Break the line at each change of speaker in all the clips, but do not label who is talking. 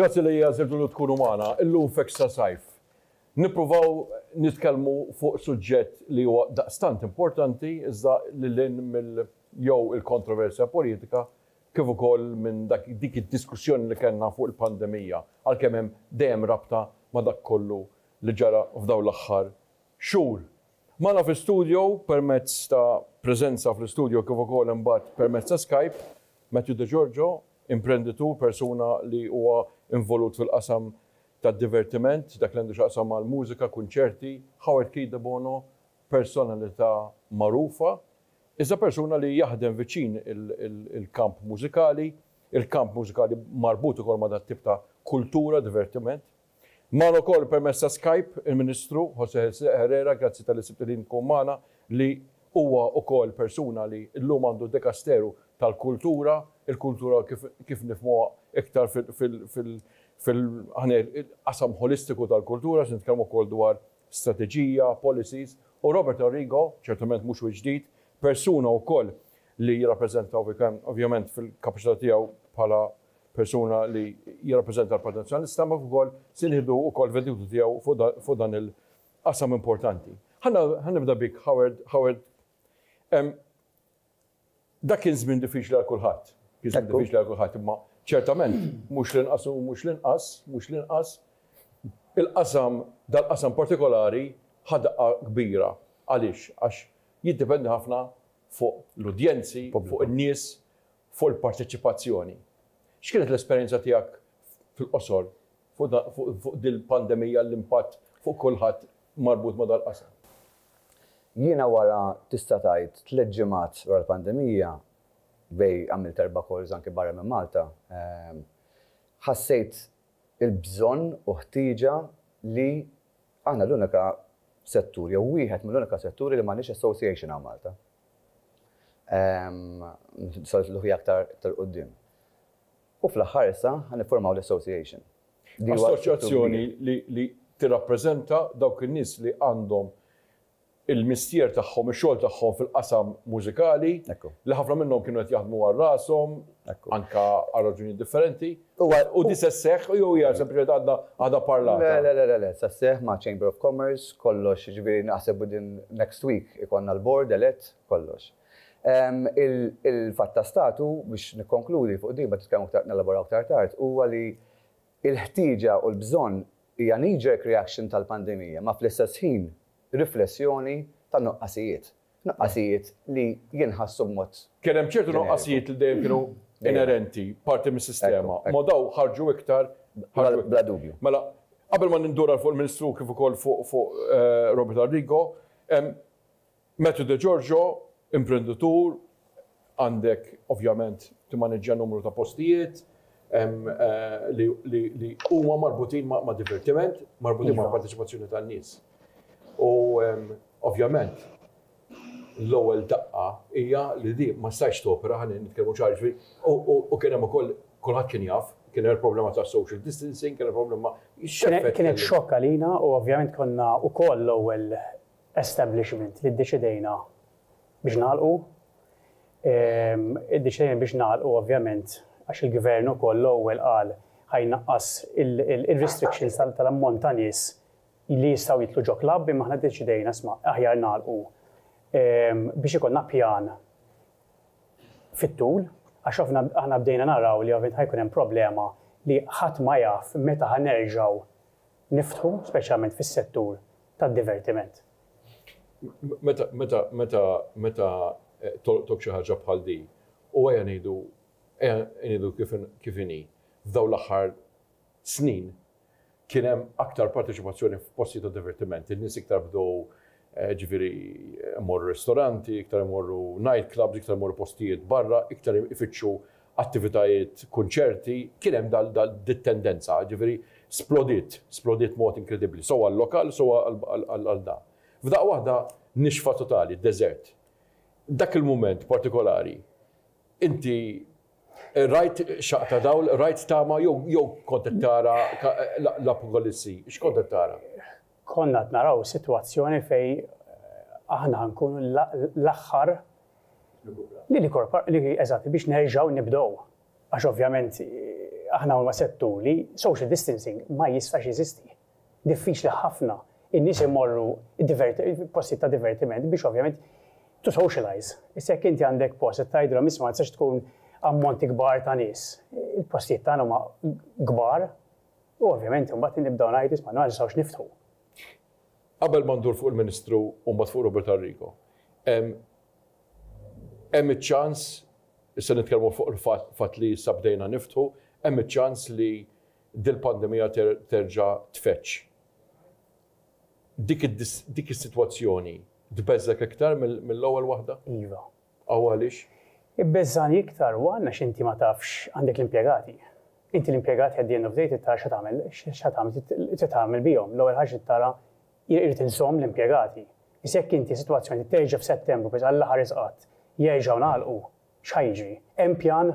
Grazzi li għażiltu li tkunu magħna illum f'Extra Sajf. Nippruvaw nitkellmu fuq suġġett li huwa daqstant importanti iżda lil hinn mill jew il-kontroversja politika kif ukoll minn dak dik id-diskussjoni li kellna fuq il-pandemija għalkemm hemm dejjem rabta ma' dak kollu li ġara f'dawn l-aħħar xhur. Magħna fi studio permezz ta' preżenza fl-istudio kif ukoll imbagħad permezz ta' Skype, Matthew De Giorgio, imprenditur, persuna li huwa involut fil-qasam tad-divertiment, dak li għandu x'jaqsam mal-mużika, kunċerti, Howard Keith Debono, personalità magħrufa, iżda persuna li jaħdem viċin il-kamp mużikali, il-kamp mużikali marbut ukoll ma' dat-tip ta' kultura, divertiment. Magħna wkoll permezz ta' Skype il-Ministru José Herrera, grazzi talli sibt il-ħin tkun magħna, li huwa wkoll persuna li llum għandu d-Dekasteru tal-Kultura, il-kultura kif nifhmuha iktar fil-qasam ħolistiku tal-kultura, se nitkellmu wkoll dwar strateġija, policies, u Robert Arrigo, ċertament mhux wiċċ ġdid, persuna wkoll li jirrappreżenta ovvjament fil-kapaċità tiegħu bħala persuna li jirrappreżenta l-Partit Nazzjonalista, ma kif ukoll se nieħdu wkoll l-veditu tiegħu fuq dan il-qasam importanti. Ħa nibda bik, Howard. Howard, dak kien żmien diffiċli għal kulħadd. Kien żmien diffiċli għal kulħadd, imma ċertament mhux l-inqas u mhux l-inqas, mhux l-inqas, il-qasam, dal-qasam partikolari ħadqa kbira. Għaliex? Għax jiddependi ħafna fuq l-udjenzi, fuq in-nies, fuq il-parteċipazzjoni. X'kienet l-esperjenza tiegħek fil-qosor fuq dil-pandemija l-impatt fuq kulħadd marbut ma' dal-qasam?
Jiena wara tista' tgħid tliet ġimgħat wara l-pandemija, bejn għamilt erba' calls anke barra minn Malta, ħassejt il-bżonn u ħtieġa li aħna l-unika settur jew wieħed mill-unika setturi li m'għandniex association hawn Malta. Soltu l-ħuja aktar quddiem. U fl-aħħar issa ħa niffurmaw l-association. Assoċjazzjoni
li tirrappreżenta dawk in-nies li għandhom il-mistier tagħhom, ix-xogħol tagħhom fil-qasam mużikali, li ħafna minnhom kienu qed jaħdmu għal rashom, anke għal raġunijiet differenti. U di se sseħħ jew hija sempliċement għadna għadha parlata? Le, le, le, le, le, se sseħħ
ma' Chamber of Commerce, kollox, jiġifieri naħseb within next week ikollna l-board elett, kollox. Il-fatt ta' stat hu, biex nikkonkludi fuq din, mbagħad nitkellmu aktar, nelaboraw aktar tard, huwa li l-ħtieġa u l-bżonn hija knee-jerk reaction tal-pandemija, ma fl-istess ħin riflessjoni ta' nuqqasijiet. nuqqasijiet li jinħassu b'mod. Kien hemm ċertu nuqqasijiet
li dejjem kienu inerenti, parti mis-sistema, imma dawn ħarġu iktar, ħarġu iktar. Bla dubju.
Mela, qabel ma
nindur għal fuq il-Ministru kif ukoll fuq fuq Robert Arrigo, hemm Matthew Degiorgio, imprenditur, Għandek ovvjament timmaniġġja numru ta' postijiet li huma marbutin ma' divertiment, marbutin ma' parteċipazzjoni tan-nies. U ovvjament l-ewwel daqqa hija li di ma stajx topera ħalli nitkellmu ċar ġri. U kien hemm ukoll kulħadd kien jaf, kien hemm il-problema ta' social distancing, kien hemm problema. Kienet
xokk għalina u ovvjament konna wkoll l-ewwel establishment li ddeċidejna Biex nagħlqu, id-deċiżjoni biex nagħlqu ovvjament għax il-Gvern ukoll l-ewwel qal ħa jnaqqas ir-restrictions tal-ammont ta' nies li jistgħu jidħlu ġo klabb imma aħna ddeċidejna isma' aħjar nagħlqu biex ikollna pjan fit-tul għax aħna bdejna naraw li ovvjament ħa jkun hemm problema li ħadd ma jaf meta ħa nerġgħu niftħu speċjalment fis-settur tad-divertiment.
Meta tolqtok xi ħaġa bħal di, u ejja ngħidu, ejja ngħidu kif inhi, f'dawn l-aħħar snin kien hemm aktar parteċipazzjoni f'postijiet ta' divertiment, in-nies iktar bdew ġifieri imorru ristoranti, iktar imorru night clubs, iktar imorru postijiet barra, iktar ifittxu attivitajiet, kunċerti, kien hemm dal-dit-tendenza, jiġifieri splodiet, splodiet b'mod inkredibbli, sew għal-lokal sew għal dan. F'daqqa waħda nixfa totali, deżert. Dak il-mument partikolari, inti rajt xaqq ta' dawl, rajt tama jew kont qed tara l-apokalissi? X'kont qed tara? Konna qed
naraw sitwazzjoni fejn aħna ħankunu l-aħħar li eżatt biex nerġgħu nibdew. Għax ovvjament aħna huwa settur li social distancing ma jistax jeżisti. Diffiċli ħafna in-nies imorru postijiet ta' divertiment biex ovvjament to socialize. Issa jekk inti għandek post qed tgħidilhom isma' ma tistax tkun ammonti kbar ta' nies. Il-postijiet tagħna huma kbar. U ovvjament imbagħad nibdew ngħid isma' ma nistgħux niftħu.
Qabel ma ndur fuq il-Ministru u mbagħad fuq Robert Arrigo, hemm iċ-ċans, issa nitkellmu fuq il-fatt li issa bdejna niftħu, hemm iċ-ċans li dil-pandemija terġa' tfeġġ. Dik is-sitwazzjoni tbeżżgħek iktar mill-ewwel waħda? Iva. Aw
għaliex?
Ibbeżżagħni
iktar huwa għax inti ma tafx għandek l-impjegati. Inti l-impjegati at the end of day trid tara xa tagħmel xa tagħmel trid tagħmel bihom. L-ewwel ħaġa trid tara irrid inżomm l-impjegati. Issa jekk inti sitwazzjoni li terġa' f'Settembru biss Alla ħares qatt jerġgħu ngħalqu, x'ħa jiġri? Hemm pjan?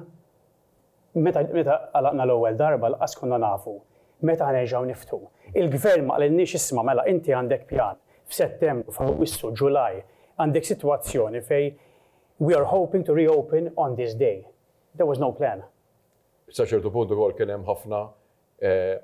Meta għalaqna l-ewwel darba lqas konna nafu meta ħanerġgħu niftħu. Il-Gvern ma qalilniex isma' mela inti għandek pjan f'Settembru, f'Awwissu, Ġulaj għandek sitwazzjoni fejn we are hoping to reopen on this day. There was no plan. Sa ċertu
punt ukoll kien hemm ħafna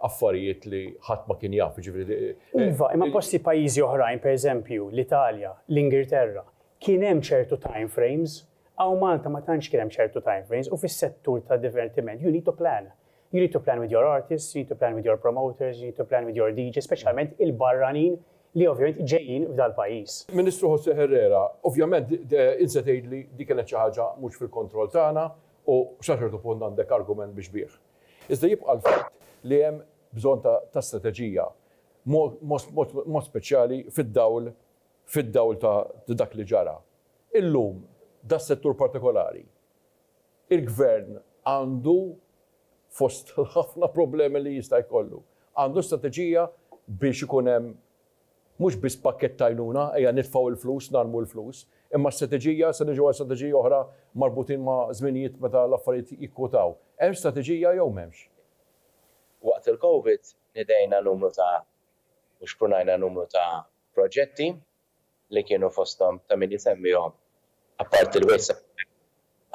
affarijiet li ħadd ma kien jaf, jiġifieri. Iva, imma posti
pajjiżi oħrajn, pereżempju, l-Italja, l-Ingilterra, kien hemm ċertu time frames, hawn Malta ma tantx kien hemm ċertu time frames u fis-settur tad-divertiment you need to plan. You need to plan with your artists, you need to plan with your promoters, you need to plan with your DJs, speċjalment il-barranin li ovvjament ġejjin f'dal-pajjiż. Ministru Jose Herrera,
ovvjament int se tgħidli din kienet xi ħaġa mhux fil-kontroll tagħna u sa ċertu punt għandek argument biex bih. Iżda jibqa' l-fatt li hemm bżonn ta' strateġija, b'mod speċjali fid-dawl fid-dawl ta' dak li ġara. Illum, das-settur partikolari, il-Gvern għandu, fost l-ħafna problemi li jista' jkollu, għandu strateġija biex ikun hemm Mhux biss pakkett t'għajnuna, ejja nitfgħu il-flus, narmu l-flus, imma strateġija, se niġu għal strateġiji oħra marbutin ma' żminijiet meta l-affarijiet jikkwotaw. Hemm strateġija jew m'hemmx? Waqt
il-Covid nidejna numru ta' u xprunajna numru ta' proġetti li kienu fosthom ta' min isemmihom, apparti l-Waste Center,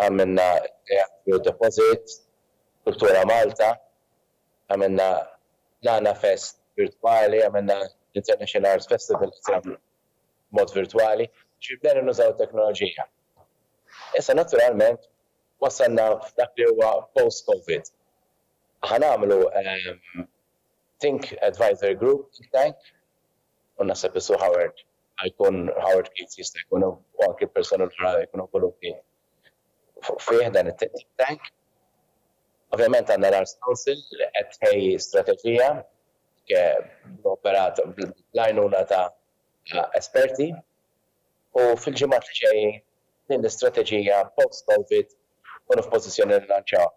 għamilna t-Teatru Deposit, Kultura Malta, għamilna l-Għana Fest virtwali, għamilna l-International Arts Festival li seħħ b'mod virtwali, jiġifieri bdejna nużaw it-teknoloġija. Issa naturalment wasalna f'dak li huwa post Covid. Ħa nagħmlu Think Advisory Group think tank u naħseb li Sue Howard ħa jkun Howard Keats jista' jkun u anki l-persuni l-oħra jkunu involuti fih dan it-think tank. Ovvjament għandna l-Arts Council li qed tħejji strateġija b'operat bl-għajnuna ta' esperti u fil-ġimgħat li ġejjin din l-istrateġija post-Covid nkunu f'pożizzjoni li nlanċawha.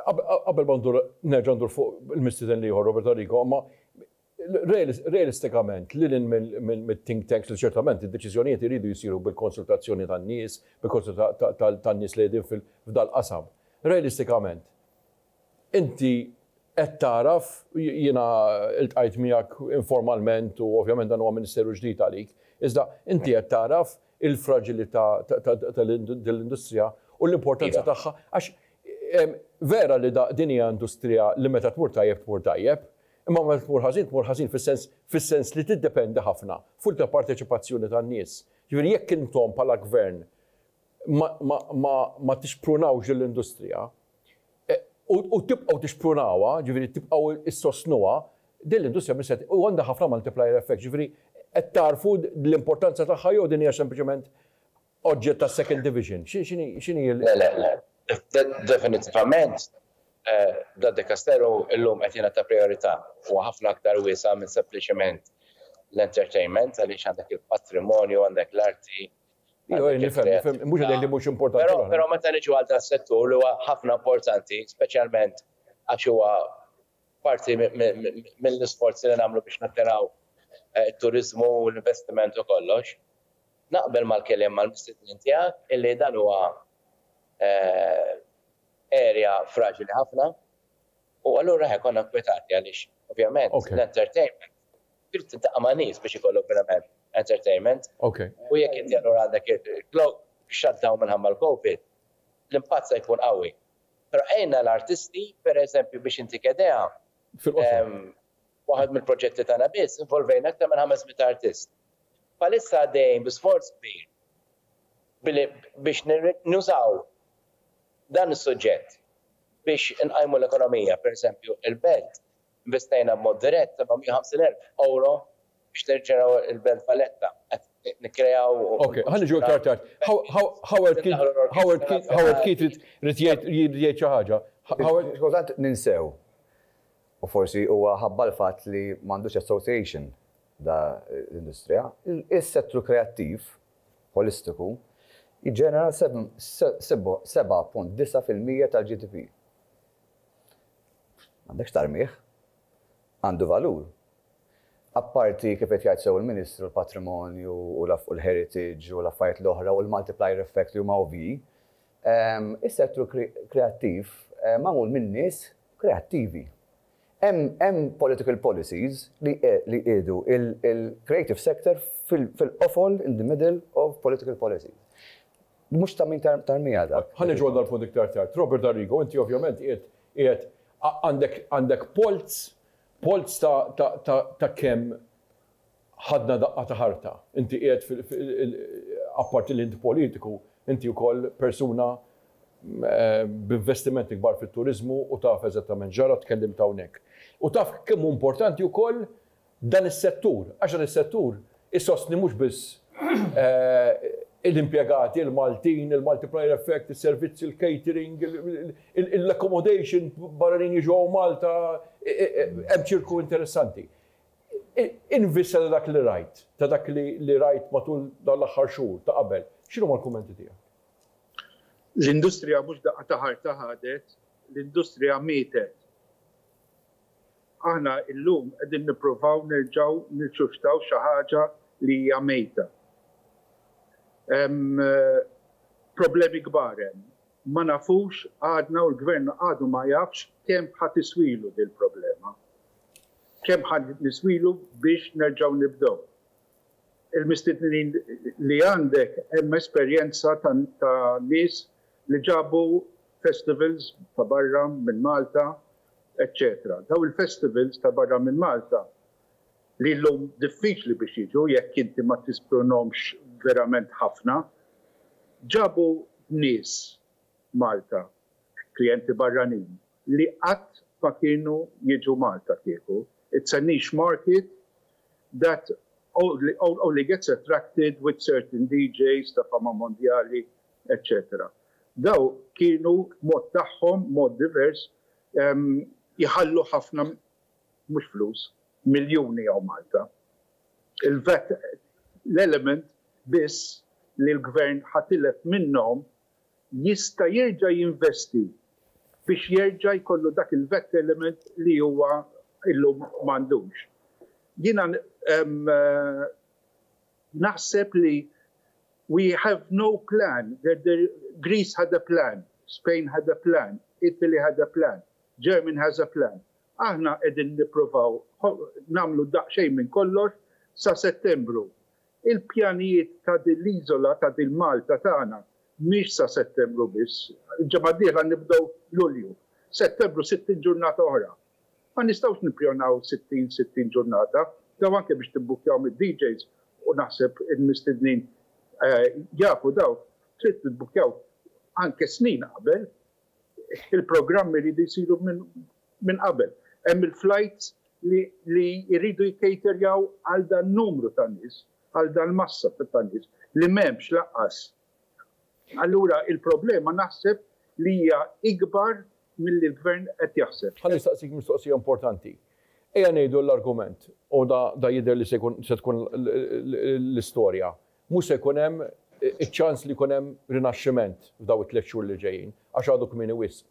Qabel ma ndur nerġa' ndur fuq il-mistieden l-ieħor Robert Arrigo, imma Realistikament, lil hinn mit-think tanks li ċertament id-deċiżjonijiet iridu jsiru bil-konsultazzjoni tan-nies, bil-konsultazzjoni tan-nies li qegħdin f'dal-qasam. Realistikament, inti qed tagħraf, jiena ltqajt miegħek informalment u ovvjament dan huwa ministeru ġdid għalik, iżda inti qed tagħraf il-fraġilità ta' din l-industrija u l-importanza tagħha għax vera li din hija industrija li meta tmur tajjeb tmur tajjeb, Imma meta tmur ħażin, tmur ħażin fis-sens fis-sens li tiddependi ħafna fuq il-parteċipazzjoni tan-nies. Jiġifieri jekk intom bħala Gvern ma ma ma ma tixprunawx din l-industrija, u u tibqgħu tixprunawha, jiġifieri tibqgħu issostnuha, din l-industrija mhix se u għandha ħafna multiplier effects. Jiġifieri qed tagħrfu l-importanza tagħha jew din hija sempliċement oġġett ta' second division? X'inhi l-. Le, le, le.
Definittivament d-dikasteru llum qed jingħata prijorità, huwa ħafna aktar wiesa' minn sempliċement l-entertainment għaliex għandek il-patrimonju, għandek l-arti, għandek il-kreattività.
Nifhem, mhux li mhux importanti l-oħrajn. Però meta niġu għal
dan is-settur li huwa ħafna importanti, speċjalment għax huwa Parti mill-isforzi li nagħmlu biex nattiraw it-turiżmu u l-investiment u kollox. Naqbel mal-keliem, mal-mistednin tiegħek illi dan huwa area fraġili ħafna u allura eħe konna nkwetati għaliex ovvjament l-entertainment trid tiltaqa' ma' nies biex ikollok verament entertainment u jekk inti allura għandek il-globe shut down minħabba l-Covid l-impatt se jkun qawwi. Però għinna l-artisti, per eżempju, biex intik idea, waħed mill-proġetti tagħna biss involvejna aktar minn ħames mitt artist. Bħalissa għaddejjin bi sforz kbir billi biex nużaw dan is-suġġett biex inqajmu l-ekonomija, per eżempju, il-Belt Investejna b'mod dirett 750,000 ewro biex nirġeneraw il-Belt Valletta. Qed nikkreaw u Ok, ħa niġu
iktar tard. Howard Keating, Howard Keating, Howard Keating irid jgħid, jrid jgħid xi ħaġa. Howard. Kultant
ninsew, u forsi huwa ħabba l-fatt li m'għandux association da l-industrija, is-settru kreattiv ħolistiku jiġġenera 7.9 fil-mija tal-GDP. M'għandekx tarmih. Għandu valur. Apparti, kif qed jgħid sew il-Ministru, l-patrimonju u l-heritage u l-affarijiet l-oħra u l-multiplier effect li huma ovvji, is-settur kreattiv magħmul minn nies kreattivi. Hemm political policies li jqiegħdu l-creative sector fil-qofol, in the middle of political policies. Mhux ta' min tarmiha dak. Ħa niġu għal dal-punt iktar
tard. Robert Arrigo, inti ovvjament qiegħed qiegħed għandek għandek polz polz ta' ta' ta' ta' kemm ħadna daqqa ta' ħarta. Inti qiegħed fi fi apparti li int politiku, inti wkoll persuna b'investimenti kbar fit-turiżmu u taf eżattament x'ġara, tkellimt hawnhekk. U taf kemm hu importanti wkoll dan is-settur, għax dan is-settur isostni mhux biss l-impjegati, il-Maltin, il-multiplier effect, is-servizzi, il-catering, l-accommodation, barranin jiġu hawn Malta, hemm ċirku interessanti. In vista ta' dak li rajt, ta' dak li rajt matul dawn l-aħħar xhur ta' qabel, x'inhuma l-kummenti tiegħek?
L-industrija mhux daqqa ta' ħarta ħadet, l-industrija mietet. Aħna llum qegħdin nippruvaw nerġgħu nirsuscitaw xi ħaġa li hija mejta. Hemm problemi kbar hemm. Ma nafux għadna u l-Gvern għadu ma jafx kemm ħa tiswilu din il-problema. Kemm ħa niswilu biex nerġgħu nibdew. Il-mistednin li għandek hemm esperjenza ta' ta' nies li ġabu festivals ta' barra minn Malta eċċetera. Dawn il-festivals ta' barra minn Malta li llum diffiċli biex jiġu jekk inti ma tispronhomx verament ħafna, ġabu nies Malta, klijenti barranin, li qatt ma kienu jiġu Malta kieku. It's a niche market that only gets attracted with certain DJs ta' fama mondjali eċċetera Dawn kienu b'mod tagħhom, mod divers, jħallu ħafna mhux flus, miljuni hawn Malta. Il-vat l-element biss li l-Gvern ħa tilef minnhom jista' jerġa' jinvesti biex jerġa' jkollu dak il-vat element li huwa llum m'għandux. Jiena Naħseb li we have no plan, Greece had a plan, Spain had a plan, Italy had a plan, Germany has a plan. Aħna qegħdin nippruvaw nagħmlu daqsxejn minn kollox sa Settembru. Il-pjanijiet ta' din l-iżola, ta' din Malta tagħna, mhix sa Settembru biss. Il-ġimgħa d-dieħla nibdew Lulju. Settembru sittin ġurnata oħra. Ma nistgħux nippjonaw 60, 60 ġurnata, daw anke biex tibbukkjaw mid-DJs u naħseb il-mistednin jafu daw, trid tibbukkjaw anke snin qabel, il-programmi jridu jsiru minn qabel. Hemm il-flajts li jridu jikkaterjaw għal dan numru ta' nies, għal dal-massa ta' nies li m'hemmx lanqas Allura l-problema naħseb li hija ikbar milli l-Gvern qed jaħseb. Ħa nistaqsik mistoqsija
importanti. Ejja ngħidu l-argument, u da jidher li se tkun l-istorja, mhux se jkun hemm iċ-ċans li jkun hemm rinaxximent f'daw it-tliet xhur li ġejjin, għax għadu kmieni wisq.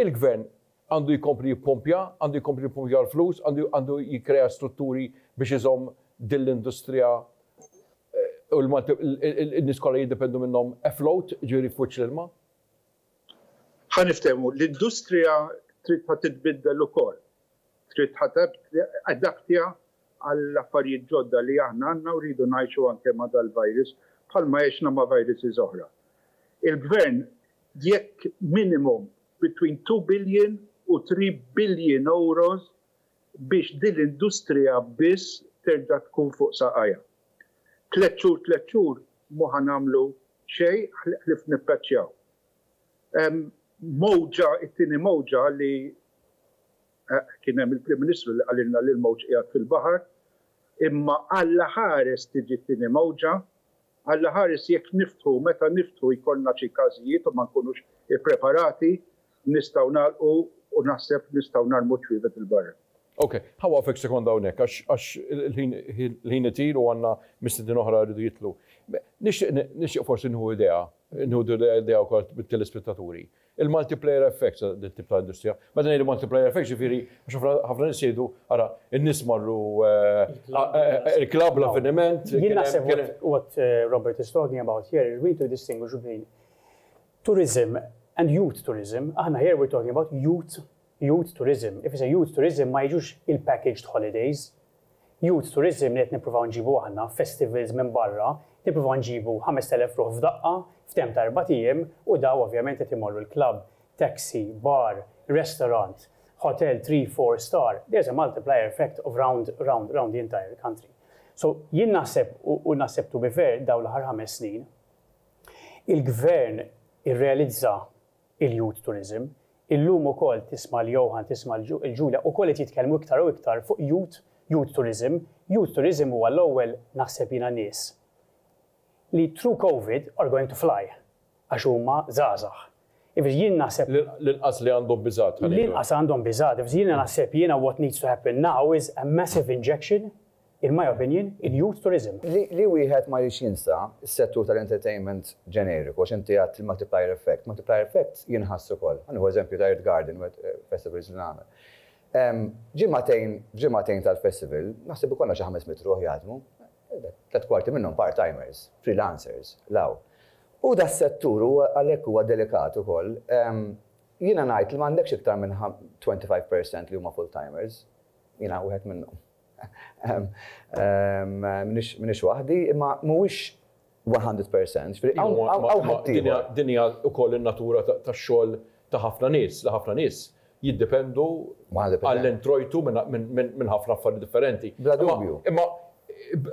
Il-Gvern għandu jkompli jippompja, għandu jkompli jippompja l-flus, għandu għandu jikkrea strutturi biex iżomm din l-industrija u l-Malti n-nies kollha jiddependu minnhom afloat, jiġifieri fuċ l-ilma. Ħa niftehmu,
l-industrija trid ħa titbiddel ukoll, trid ħa tibda adaptja għall-affarijiet ġodda li aħna għandna u rridu ngħixu anke ma' dal-virus bħalma għexna ma' viruses oħra. Il-Gvern jekk minimum between two billion u three billion euros biex dil-industrija biss terġa' tkun fuq saqajha. Tliet xhur tliet xhur mhu ħa nagħmlu xejn ħlief nippaċċjaw mowġa, it-tieni mowġa li Kien hemm il-Prim Ministru li qalilna li l-mowġ qiegħed fil-baħar, imma Alla ħares tiġi t-tieni mowġa, Alla ħares jekk niftħu, meta niftħu jkollna xi każijiet u ma nkunux ippreparati, nistgħu nagħlqu u naħseb nistgħu narmu ċwievet 'il barra. Ok, ħa waqfek
sekonda hawnhekk għax il-ħin itir u għandna mistiednin oħra jridu jidħlu. Nixtieq forsi nieħu idea, nieħu idea wkoll mit-telespettaturi. Il-multiplier effect ta' din it-tip ta' industrija. Meta ngħidu multiplier effect ġifieri għax ħafna nies jgħidu ara n-nies marru l-klabb, l-avveniment. Jien naħseb
what Robert is talking about here is we need to distinguish between tourism and youth tourism. Aħna here we are talking about youth Youth tourism ifisser youth tourism ma jiġux il-packaged holidays. Youth tourism li qed nippruvaw nġibu aħna, festivals minn barra, nippruvaw nġibu 5,000 ruħ f'daqqa, f'temp ta' erbat ijiem u daw ovvjament qed imorru l-klabb, taxi, bar, restaurant, hotel three, four star, there's a multiplier effect of round, round, round the entire country. So jien naħseb u naħseb to be fair dawn l-aħħar ħames snin, il-Gvern irrealizza il-youth tourism. Illum ukoll tisma' l-Johan, tisma' l-Julia ukoll qed jitkellmu iktar u iktar fuq youth, youth tourism. Youth tourism huwa l-ewwel naħseb jiena nies li through covid are going to fly għax huma żgħażagħ. Jifieri jien naħseb. L-inqas li għandhom
biżgħat ħa ngħidu hekk. L-inqas għandhom biżgħat.
Jiena naħseb jiena what needs to happen now is a massive injection In my opinion, in youth tourism. Li wieħed ma
jridx jinsa s-settur tal-entertainment ġeneriku għax inti għedt il-multiplier effect. Multiplier effect jinħass ukoll. Ħa nieħu eżempju ta' Earth Garden, festivals li nagħmel. Ġimagħtejn, f'ġimagħtejn tal-festival, naħseb ikollna xi ħames mitt ruħ jaħdmu. Tliet kwarti minnhom part-timers, freelancers, 'l hawn. U das-settur huwa għalhekk huwa delikat ukoll. Jiena ngħid li m'għandekx iktar minn 25 percent li huma full-timers. Jiena wieħed minnhom. M'iniex waħdi, imma mhuwiex 100 percent, jiġifieri hawn ħaddieħor.
Din hija wkoll in-natura tax-xogħol ta' ħafna nies, li ħafna nies jiddependu għall-introjtu minn ħafna affarijiet differenti. Bla dubju. Imma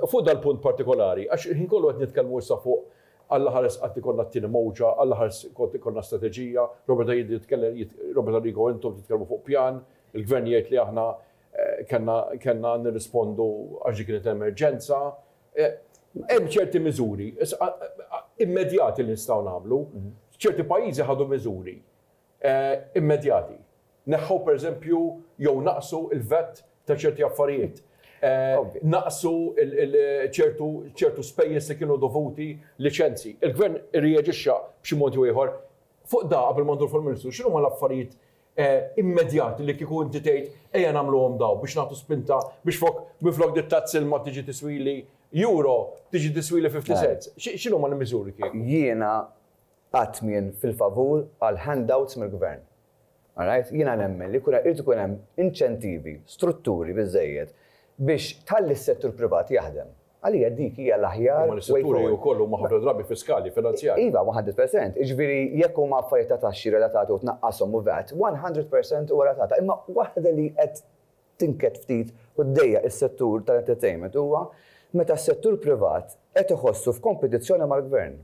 fuq dal-punt partikolari, għax il-ħin kollu qed nitkellmu issa fuq Alla ħares qatt ikollna t-tieni mowġa, Alla ħares kont ikollna strateġija, Robert Abela jitkellem, Robert Arrigo intom titkellmu fuq pjan, il-Gvern jgħid li aħna Kellna nirrispondu għax dik kienet emerġenza. Hemm ċerti miżuri immedjati li nistgħu nagħmlu. Ċerti pajjiżi ħadu miżuri immedjati. Neħħew pereżempju jew naqqsu l-VAT ta' ċerti affarijiet. Naqqsu ċertu spejjeż li kienu dovuti, liċenzji. Il-Gvern irreaġixxa b'xi mod jew ieħor. Fuq dan, qabel ma nduru fuq il-Ministru, x'inhuma l-affarijiet immedjat li kieku inti tgħid ejja nagħmluhom dawn biex nagħtu spinta biex flok minflok din it-tax ilma tiġi tiswili Euro, tiġi tiswili 50 cents. X'inhuma l-miżuri kieku? Jiena
qatt m'jien fil-favur għal handouts mill-Gvern. All right? Jiena nemmen li jkun irid ikun hemm inċentivi, strutturi biżżejjed biex tħalli s-settur privat jaħdem. Għalija dik hija l-aħjar way forward. Imma l-istrutturi wkoll
huma ħafna drabi fiskali, finanzjarji. Iva, one hundred percent.
Jiġifieri jekk huma affarijiet ta' taxxi relatati u tnaqqashom u vat, one hundred percent huwa relatata. Imma waħda li qed tinked ftit u ddejjaq is-settur tal-entertainment huwa meta s-settur privat qed iħossu f'kompetizzjoni mal-gvern.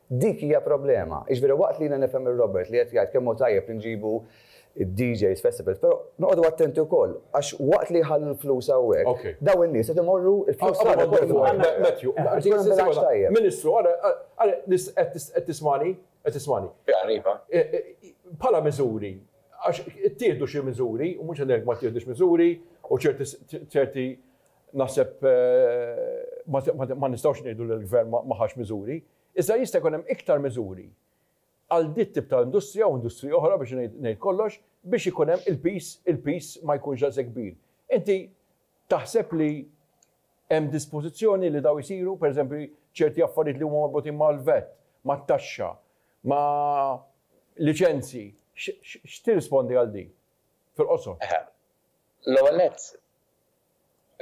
Dik hija problema. Jiġifieri waqt li jiena nifhem lil Robert li qed jgħid kemm hu tajjeb li nġibu d-DJs, festivals, però noqogħdu attenti wkoll għax waqt li jħallu l-flus hawnhekk, dawn in-nies qed imorru l-flus tagħna wkoll imorru
hemmhekk. Matthew, Ministru, ara, ara, qed tismagħni? Qed tismagħni? Iva, iva. Bħala miżuri, għax ittieħdu xi miżuri, u mhux qed ngħid ma ttieħdux miżuri, u ċerti, ċerti, Naħseb ma nistgħux ngħidu li l-Gvern ma ħax miżuri, iżda jista' jkun hemm iktar miżuri għal dik tip ta' industrija u industriji oħra biex ngħid kollox biex ikun hemm il-piż il-piż ma jkunx daqshekk kbir. Inti taħseb li hemm dispożizzjoni li dawn isiru, pereżempju ċerti affarijiet li huma marbutin mal-VAT, mat-taxxa, ma' liċenzji, x'tirrispondi għal din fil-qosor?
L-ewwel nett,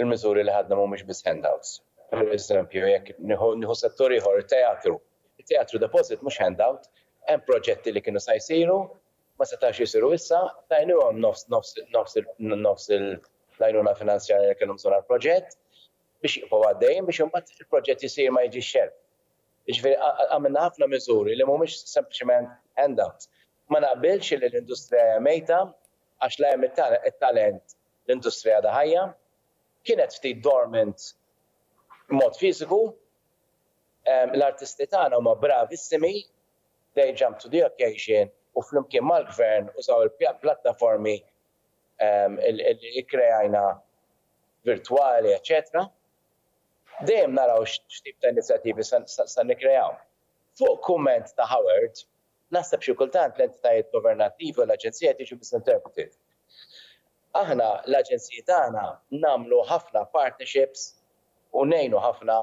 il-miżuri li ħadna mhumiex biss handouts. Pereżempju, jekk nieħu settur ieħor, it-teatru. It-teatru deposit mhux handout. Hemm proġetti li kienu sa jsiru, ma setgħux jsiru issa, tajniehom nofs, nofs, nofs, nofs l-għajnuna finanzjarja li kellhom bżonn għall-proġett biex jibqgħu għaddejjin biex imbagħad il-proġett isir ma jiġix xelf. Jiġifieri għamilna ħafna miżuri li mhumiex sempliċement handouts. Ma naqbilx illi l-industrija hija mejta, għax la hemm it-talent, l-industrija għadha ħajja. Kienet ftit dormant b'mod fiżiku. L-artisti tagħna huma bravissimi, they jumped to the occasion u flimkien mal-Gvern użaw il-plattaformi li kkreajna virtwali eċċetera. Dejjem naraw x'tip ta' inizjattivi se nikkreaw. Fuq kumment ta' Howard, Naħseb xi kultant l-entitajiet governattivi u l-aġenzija qed jiġu misinterpreted. Aħna l-aġenziji tagħna nagħmlu ħafna partnerships u ngħinu ħafna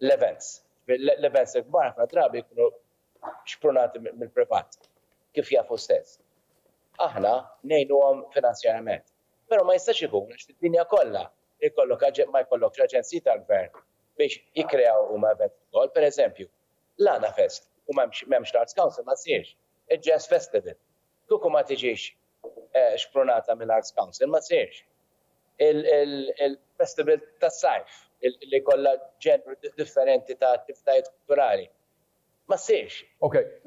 l-events. L-events il-kbar ħafna drabi jkunu xprunati mill-privat, kif jaf hu stess. Aħna ngħinuhom finanzjarament. Però ma jistax ikun għax fid-dinja kollha jkollok ma jkollokx aġenziji tal-gvern biex jikkreaw huma events ukoll. Pereżempju, L-Għana Fest, u m'hemmx l-Arts Council ma ssirx. Il-Jazz Festival, kieku ma tiġix xprunata mill-Arts Council ma ssirx. Il-festival tas-sajf li jkollha ġenru differenti ta' attivitajiet kulturali ma ssirx.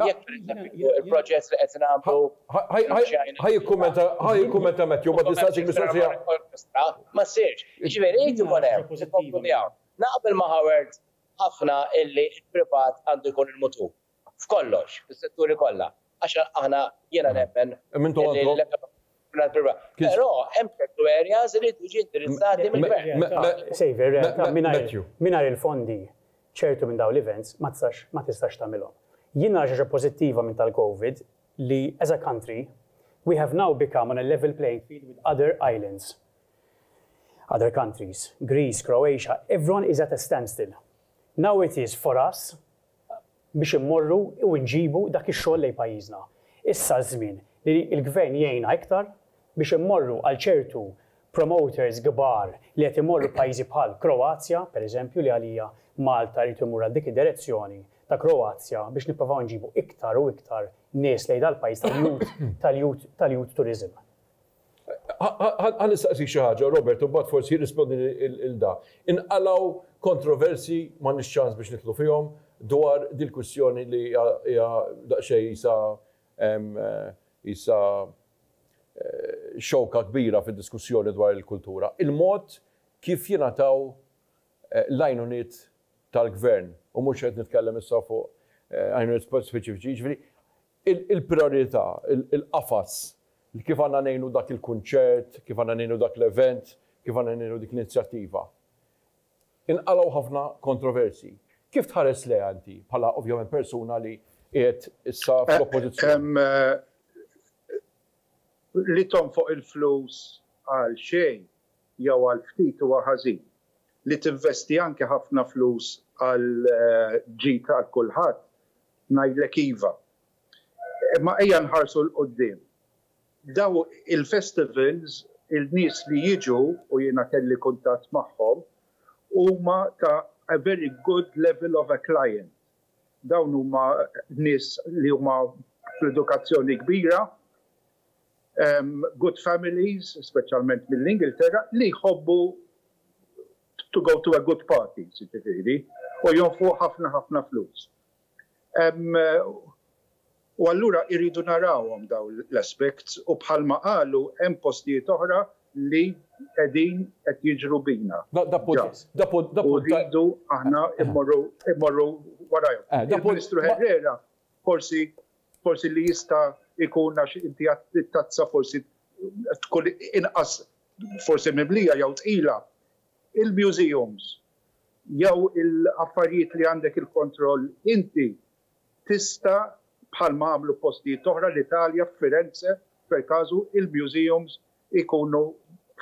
Jekk pereżempju il-proġett li qed nagħmlu f'Ċajna. Ħa jikkummenta, ħa
jikkummenta Matthew, ma tinsaqx il-mistoqsija. Ma
ssirx. Jiġifieri jrid ikun hemm, inkomplu miegħu. Naqbel ma' Howard ħafna illi l-privat għandu jkun il-mutur f'kollox, fis-setturi kollha, għax aħna, jiena nemmen illi l-ekonomija tibna mill-privat. Però hemm ċertu areas li jridu jiġi indirizzati mill-gvern.
Mingħajr il-fondi ċertu minn dawn l-events ma tistax ma tistax tagħmilhom. Jien nara xi ħaġa pożittiva minn tal-Covid li as a country we have now become on a level playing field with other islands. Other countries, Greece, Croatia, everyone is at a standstill. Now it is for us biex immorru u nġibu dak ix-xogħol lejn pajjiżna. Issa ż-żmien li l-Gvern jgħinna iktar biex immorru għal ċertu promoters kbar li qed imorru f'pajjiżi bħal Kroazja, per eżempju, li għalija Malta rrid imur għal dik id-direzzjoni ta' Kroazja biex nipprovaw nġibu iktar u iktar nies lejn dal-pajjiż tal-youth tal-youth tal-youth tourism. Ħa
nistaqsik xi ħaġa, Robert, u mbagħad forsi jirrispondi lil da. Inqalgħu kontroversji, m'għandniex ċans biex nidħlu fihom, dwar dil-kwistjoni li hija daqsxejn qisha qisha xewka kbira fid-diskussjoni dwar il-kultura, il-mod kif jingħataw l-għajnuniet tal-gvern, u mhux qed nitkellem issa fuq għajnuniet speċifiċi, jiġifieri il-prijorità, il-qafas li kif għandna ngħinu dak il-kunċert, kif għandna ngħinu dak l-event, kif għandna ngħinu dik l-inizjattiva. Inqalgħu ħafna kontroversji. Kif tħares lejha inti bħala ovvjament persuna li qiegħed issa fl-Oppożizzjoni?
Li tonfoq il-flus għal xejn jew għal ftit huwa ħażin. Li tinvesti anke ħafna flus għall-ġid għal kulħadd Ngħidlek iva. Imma ejja nħarsu 'l quddiem. Dawn il-festivals, il-nies li jiġu, u jiena kelli kuntatt magħhom, huma ta' a very good level of a client. Dawn huma nies li huma fl-edukazzjoni kbira, good families, speċjalment mill-Ingilterra, li jħobbu to go to a good party, jiġifieri, u jonfqu ħafna ħafna flus. U allura irridu narawhom daw l-aspects u bħalma qalu hemm postijiet oħra li qegħdin qed jiġru bina. Da punt jess. Da punt da punt. Irridu aħna immorru immorru warajhom. Eh, Il-Ministru Herrera forsi forsi li jista' ikun għax inti għat tazza forsi tkun inqas forsi mimlija jew tqila, il-museums jew il-affarijiet li għandek il-kontroll inti tista' bħalma għamlu f'postijiet oħra, l-Italja, f'Firenze per casu, il-museums ikunu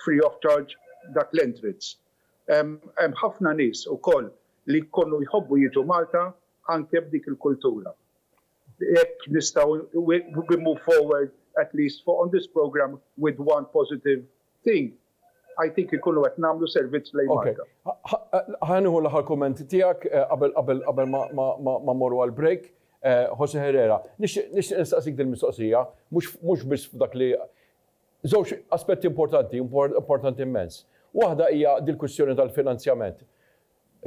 free of charge dak l-entrance. Hemm ħafna nies ukoll li jkunu jħobbu jiġu Malta anke b'dik il-kultura. B'hekk nistgħu we we move forward at least for on this programme with one positive thing. I think inkunu qed nagħmlu servizz lejn Malta. Okay. Ħa
nieħu l-aħħar kumment tiegħek eh, qabel qabel qabel ma morru għal break. Eh, Jose Herrera, nixtieq nistaqsik din mistoqsija, mhux biss f'dak li żewġ aspetti importanti, importanti immens. Waħda hija dil-kwistjoni tal-finanzjament.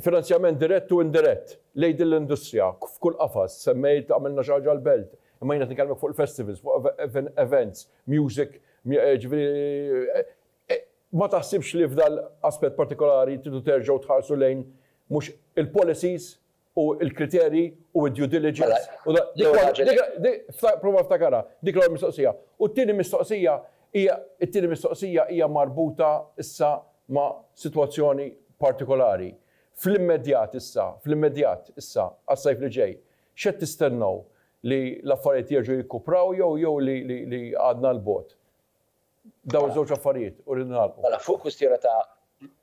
Finanzjament dirett u indirett lejn din l-industrija f'kull qafas, semmejt għamilna xi ħaġa għall-belt, imma jien qed nkellmek fuq il-festivals, fuq events, music, jiġifieri ma taħsibx li f'dan l-aspett partikolari tridu terġgħu tħarsu lejn mhux il-policies u l-kriterji u d-due diligence u dak, prova ftakarha, dik l-ewwel mistoqsija. U t-tieni mistoqsija Hija, it-tieni mistoqsija hija marbuta issa ma' sitwazzjoni partikolari. Fl-immedjat issa, fl-immedjat issa, għas-sajf li ġej, x'qed tistennew? Li l-affarijiet jerġgħu jikkupraw jew jew li li li għadna 'l bogħod? Dawn iż-żewġ affarijiet u rridu nagħlqu. Mela, fuq kwistjoni ta'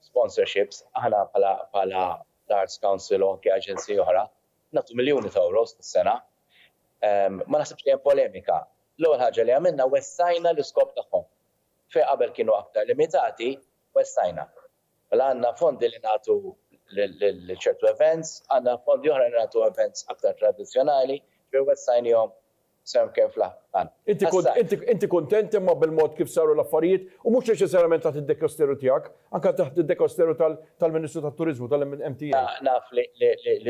sponsorships, aħna bħala bħala l-Arts Council u anke aġenziji oħra, nagħtu miljuni ta' euros kull sena Ma naħsibx li hemm polemika. L-ewwel ħaġa li għamilna wessajna l-iskop tagħhom. Fejn qabel kienu aktar limitati, wessajna. Mela għandna fondi li nagħtu lil ċertu events, għandna fondi oħra li nagħtu events aktar tradizzjonali, ġifieri wessajniehom sew kemm fl-aħħar. Inti
kuntent imma bil-mod kif saru l-affarijiet u mhux neċessarjament taħt id-dekasteru tiegħek. Anke taħt id-dekasteru tal-Ministru tat-Turiżmu, tal-MTA. Naf
li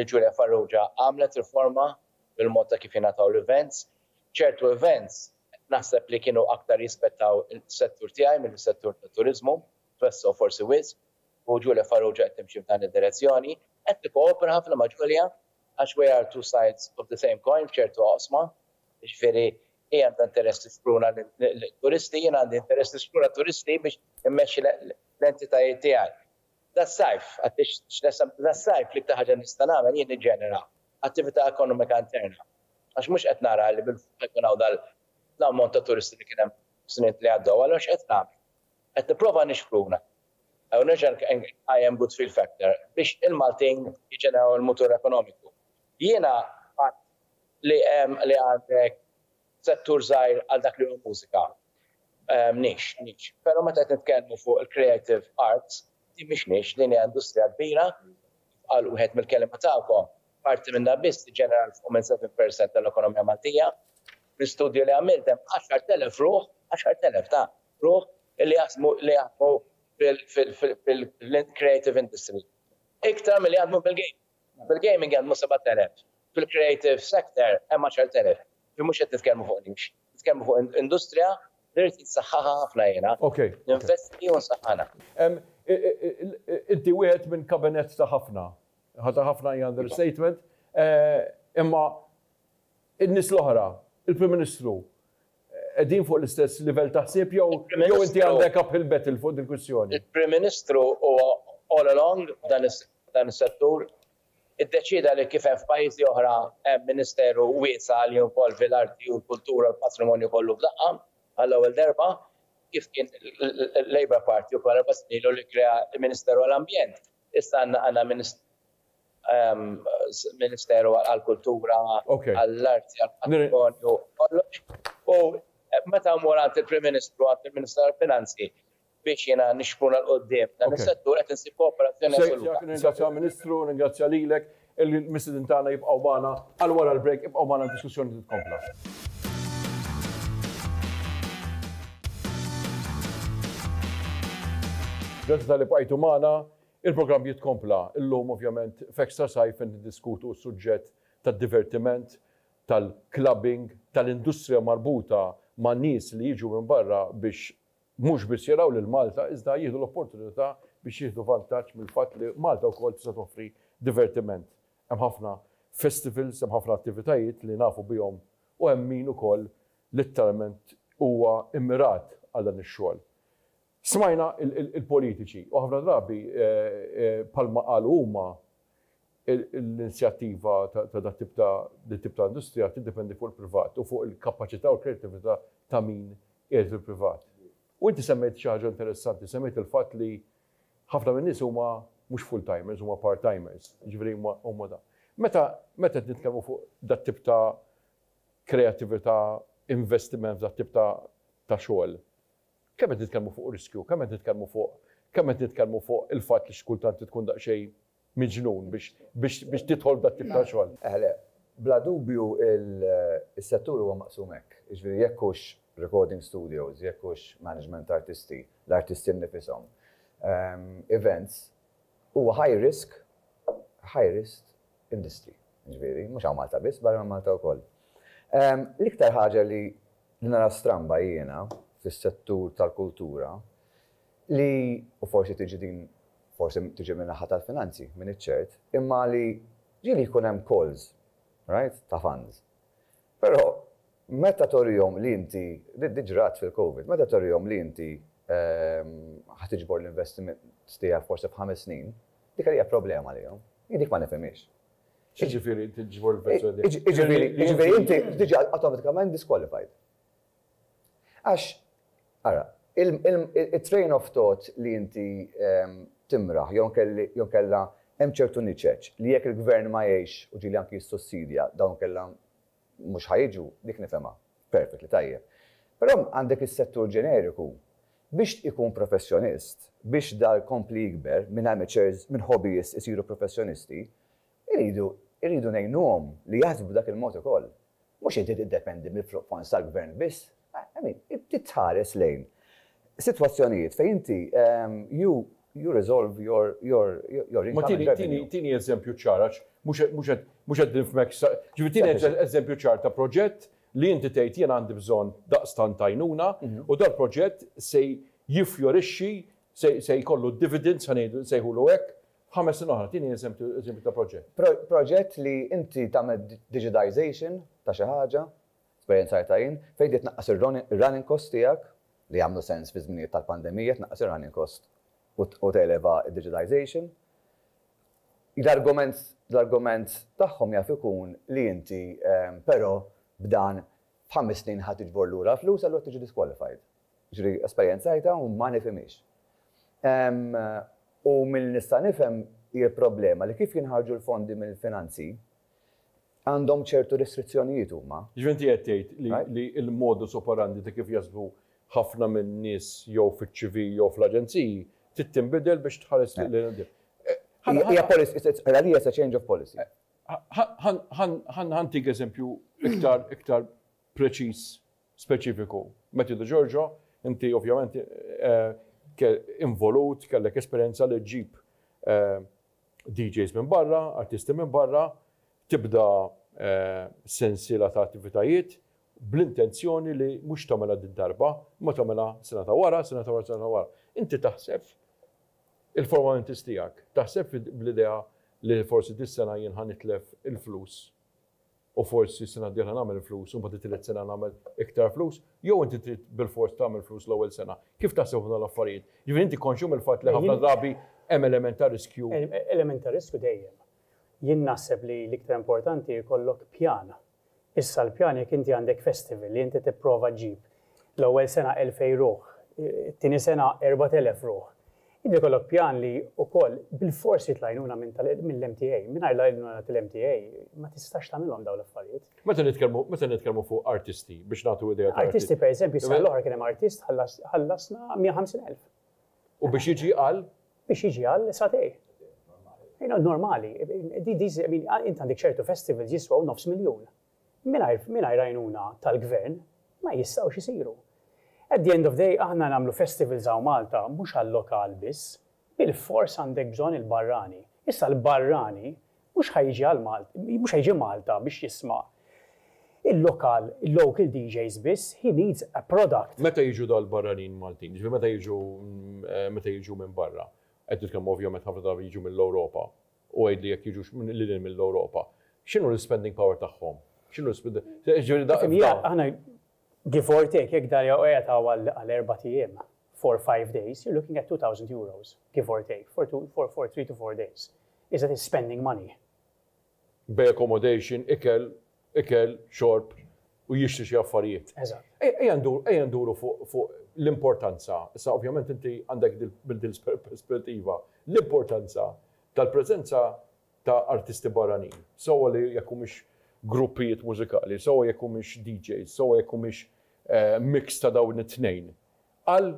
Julia Farrugia għamlet riforma fil-mod ta' kif jingħataw l-events. Ċertu events naħseb li kienu aktar jispettaw is-settur tiegħi milli s-settur tat-turiżmu, twessgħu forsi wisq, u Julia Farrugia qed timxi f'dan id-direzzjoni. Qed nikkoopera ħafna ma' Julia għax we are two sides of the same coin f'ċertu oqsma, jiġifieri Hi għandha interess tisplura lit-turisti, jien għandi interess nisplura t-turisti biex immexxi l-entitajiet tiegħi. Das-sajf, għadt x'nessem, das-sajf l-iktar ħaġa li nista' nagħmel jien niġġenera attività ekonomika interna. Għax mhux qed nara li bilfors jkun hawn dal-ammont ta' turisti li kien hemm fis-snin li għaddew. Allura x'qed nagħmel? Qed nipprova nixpruna u nerġa' nqajjem good feel factor biex il-Maltin jiġġeneraw il-mutur ekonomiku. Jiena qatt li hemm li għandek settur żgħir għal dak li hu l-mużika, nix, nix. Però meta qed nitkellmu fuq il-creative arts, din mhix nix, din hija industrija kbira, kif qal wieħed mill-kelliema tagħkom, parti minnha biss tiġġenera 'l fuq minn 7 per cent tal-ekonomija Maltija. Fl-istudju li għamilt hemm 10,000 ruħ, 10,000 ta' ruħ, li jaħsmu li jaħdmu fil-creative industry. Iktar milli jaħdmu fil-gaming. Fil-gaming hemm 7,000. Fil-creative sector hemm 10,000. Ġifieri mhux qed nitkellmu fuq niche. Nitkellmu fuq industrija li rrid insaħħaħha ħafna jiena. Ninvesti u nsaħħanha. Inti
wieħed minn kabinett ta' ħafna. Ta' ħafna hija understatement. Imma n-nies l-oħra, il-Prim Ministru, qegħdin fuq l-istess livell ta' ħsieb jew inti għandek uphill battle fuq dil-kwistjoni? Il-Prim Ministru
huwa all along f'dan is-settur. f'dan is-settur, iddeċieda li kif hemm f'pajjiżi oħra hemm ministeru wiesa' li jinvolvi l-arti u l-kultura u l-patrimonju kollu f'daqqa, għall-ewwel derba, kif kien l-Labour Party ukoll erba' snin ilu li kkrea l-Ministeru għall-Ambjent, issa għandna Ministeru għall-Kultura, għall-Arti, għall-Patrimonju, kollox. U meta mmur għand il-Prim Ministru, għand il-Ministru tal-Finanzi, biex jiena nixpruna 'l quddiem dan is-settur qed insib kooperazzjoni assoluta. Sejt, nirringrazzja Ministru,
nirringrazzja lilek, il-mistieden tagħna jibqgħu magħna għal wara l-break, ibqgħu magħna d-diskussjoni titkompla. Grazzi talli bqajtu magħna. Il-programm jitkompla. Illum ovvjament f'Extra Sajf qed niddiskutu s-suġġett tad-divertiment, tal-clubbing, tal-industrija marbuta ma' nies li jiġu minn barra biex Mhux biss jaraw lil Malta iżda jieħdu l-opportunità biex jieħdu vantaġġ mill-fatt li Malta wkoll tista' toffri divertiment. Hemm ħafna festivals, hemm ħafna attivitajiet li nafu bihom u hemm min ukoll litteralment huwa immirat għal dan ix-xogħol. Smajna l-politiċi u ħafna drabi bħalma qalu huma L-inizjattiva ta' dan it-tip ta' din it-tip ta' industrija tiddependi fuq il-privat u fuq il-kapaċità u l-kreattività ta' min qiegħed fil-privat. U inti semmejt xi ħaġa interessanti, semmejt il-fatt li ħafna min-nies huma mhux full-timers, huma part-timers, jiġifieri huma huma dan. Meta meta qed nitkellmu fuq dat tip ta' kreattività, investiment f'dat tip ta' ta' xogħol, kemm qed nitkellmu fuq riskju, kemm qed nitkellmu fuq kemm qed nitkellmu fuq il-fatt li xi kultant li tkun daqsxejn miġnun biex tidħol f'dak tip ta' xogħol. Eh le, bla
dubju is-settur huwa maqsum hekk. Jiġifieri jekk hux recording studios, jekk hux management ta' artisti, l-artisti nnifishom, events, huwa high risk, high risk industry. Jiġifieri, mhux hawn Malta biss, barra minn Malta wkoll. L-iktar ħaġa li nara stramba jiena fis-settur tal-kultura li, u forsi tiġi din forsi tiġi min-naħa tal-finanzi, m'iniex ċert, imma li ġieli jkun hemm calls, right, ta' funds. Però meta turihom li inti, din ġrat fil-Covid, meta turihom li inti ħa tiġbor l-investiment tiegħek forsi f'ħames snin, dik hija problema għalihom. Jien dik ma nifhimhiex. X'jiġifieri
tiġbor l-investiment tiegħek? Jiġifieri inti
tiġi awtomatikament disqualified. Għax, ara, it-train of thought li inti timraħ jew inkella hemm ċertu niċeċ li jekk il-Gvern ma jgħinx u ġieli anki jissussidja dawn inkella mhux ħa jiġu, dik nifhemha perfectly tajjeb. Però għandek is-settur ġeneriku biex ikun professjonist, biex dar jkompli jikber minn amateurs, minn hobbyist isiru professjonisti, Irridu, irridu ngħinuhom li jaħsbu b'dak il-mod ukoll. Mhux inti tiddependi mill-fluqfons tal-gvern biss. I mean, trid tħares lejn sitwazzjonijiet fejn inti you, you resolve your, your, your income and revenue. Ma tini eżempju
ċar għax mhux qed nifhmek sa. Ġifieri tini eżempju ċar ta' proġett li inti tgħid jien għandi bżonn daqstant għajnuna u dal-proġett se jifjorixxi, se jkollu dividends, ħa ngħidu, nsejħulu hekk, Ħames snin oħra, tieni eżempju ta' proġett. Proġett li
inti tagħmel digitization ta' xi ħaġa, esperjenzajtha jien, fejn trid tnaqqas ir-running cost tiegħek, li jagħmlu sens fi żminijiet tal-pandemija, tnaqqas ir-running cost u televa d-digitization. L-argument l-argument tagħhom jaf ikun li inti però b'dan f'ħames snin ħa tiġbor lura l-flus allura tiġi disqualified. Jiġri esperjenzajtha u ma nifhimhiex. U milli nista' nifhem hi l-problema li kif jinħarġu l-fondi mill-finanzi għandhom ċertu restrizzjonijiet huma. Jiġri inti qed tgħid
li l-modus operandi ta' kif jaħsbu ħafna minn nies jew fiċ-ċivi jew fl-aġenziji trid tinbidel biex tħares lejn il-qudiem. Hija
policy, għalija it's a change of policy. Ħa
ntik eżempju iktar preċiż speċifiku. Matthew De Giorgio, inti ovvjament involut, kellek esperjenza li ġġib DJs minn barra, artisti minn barra, tibda sensiela ta' attivitajiet bl-intenzjoni li mhux tagħmilha did-darba, imma tagħmilha sena ta' wara, sena ta' wara, sena ta' wara. Inti taħseb il-formalities tiegħek, taħseb bl-idea li forsi dis-sena jien ħa nitlef il-flus u forsi s-sena d-dieħla nagħmel flus u mbagħad it-tielet sena nagħmel iktar flus, jew inti trid bilfors tagħmel flus l-ewwel sena? Kif taħseb fuq dawn l-affarijiet? Jiġifieri inti konxju mill-fatt li ħafna drabi hemm element ta' riskju? Element ta' riskju
dejjem. Jien naħseb li l-iktar importanti jkollok pjan. Issa l-pjan jekk inti għandek festival li inti tipprova ġġib l-ewwel sena 2000 ruħ, it-tieni sena 4000 ruħ, Inti jkollok pjan li wkoll bilfors trid l-għajnuna minn tal mill-MTA. Mingħajr l-għajnuna tal-MTA ma tistax tagħmilhom dawn l-affarijiet. Meta nitkellmu meta
nitkellmu fuq artisti biex nagħtu idea ta' artisti. Artisti pereżempju s-sena l-oħra
kien hemm artist ħallas ħallasna 150,000. U biex
jiġi għal? Biex jiġi għal
satej. Normali. Normali. Di di int għandek ċertu festivals jiswaw nofs miljun. Mingħajr mingħajr għajnuna tal-gvern ma jistgħux isiru. At the end of day aħna nagħmlu festivals hawn Malta mhux għal-lokal biss. Bilfors għandek bżonn il-barrani. Issa l-barrani mhux ħa jiġi għal Malta, mhux ħa jiġi Malta biex jisma' il-lokal, il-local DJs biss, he needs a product. Meta jiġu dawn il-barranin
Maltin, jiġifieri meta jiġu meta jiġu minn barra, qed nitkellmu ovvjament ħafna drabi jiġu mill-Ewropa, U għidli jekk jiġux lil hinn mill-Ewropa, x'inhu l-ispending power tagħhom? X'inhu l-ispending, jiġifieri da. Aħna
give or take, jekk Daria qiegħed hawn għal erbat ijiem, four, five days, you're looking at €2,000, give or take, for two, for, for three to four days. Is that is spending money? Bej
accommodation, ikel, ikel, xorb u jixtri xi affarijiet. Eżatt. Ejja ndur,
ejja nduru
fuq fuq l-importanza, issa ovvjament inti għandek dil minn din l-perspettiva, l-importanza tal-preżenza ta' artisti barranin, sewwa li jekk humiex gruppijiet mużikali, sewwa jekk humiex DJs, sewwa jekk humiex mix ta' dawn it-tnejn, għal